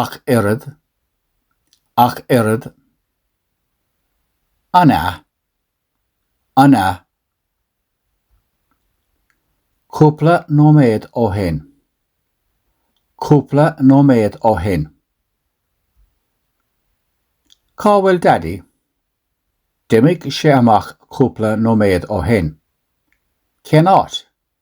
ach oiread, ach oiread, an ea? an ea? cúpla nóiméad ó shin, cúpla nóiméad ó shin, Cá bhfuil Daidí? D'imigh sé amach cúpla nóiméad ó shin. Cén áit?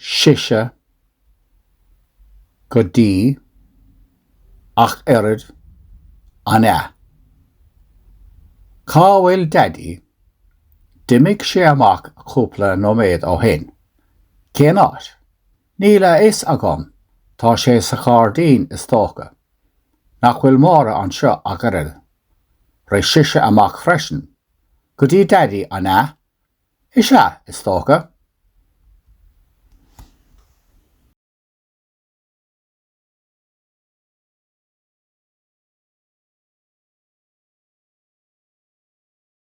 sise, go dtí, ach oiread, an ea? Cá bhfuil daidí? D'imigh sé amach cúpla nóiméad ó shin. Cén áit? Níl a fhios agam, tá sé sa ghairdín, is dócha. Nach bhfuil Máire anseo ach oiread? Rith sise amach freisin. Go dtí daidí, an ea? Is ea, is dócha.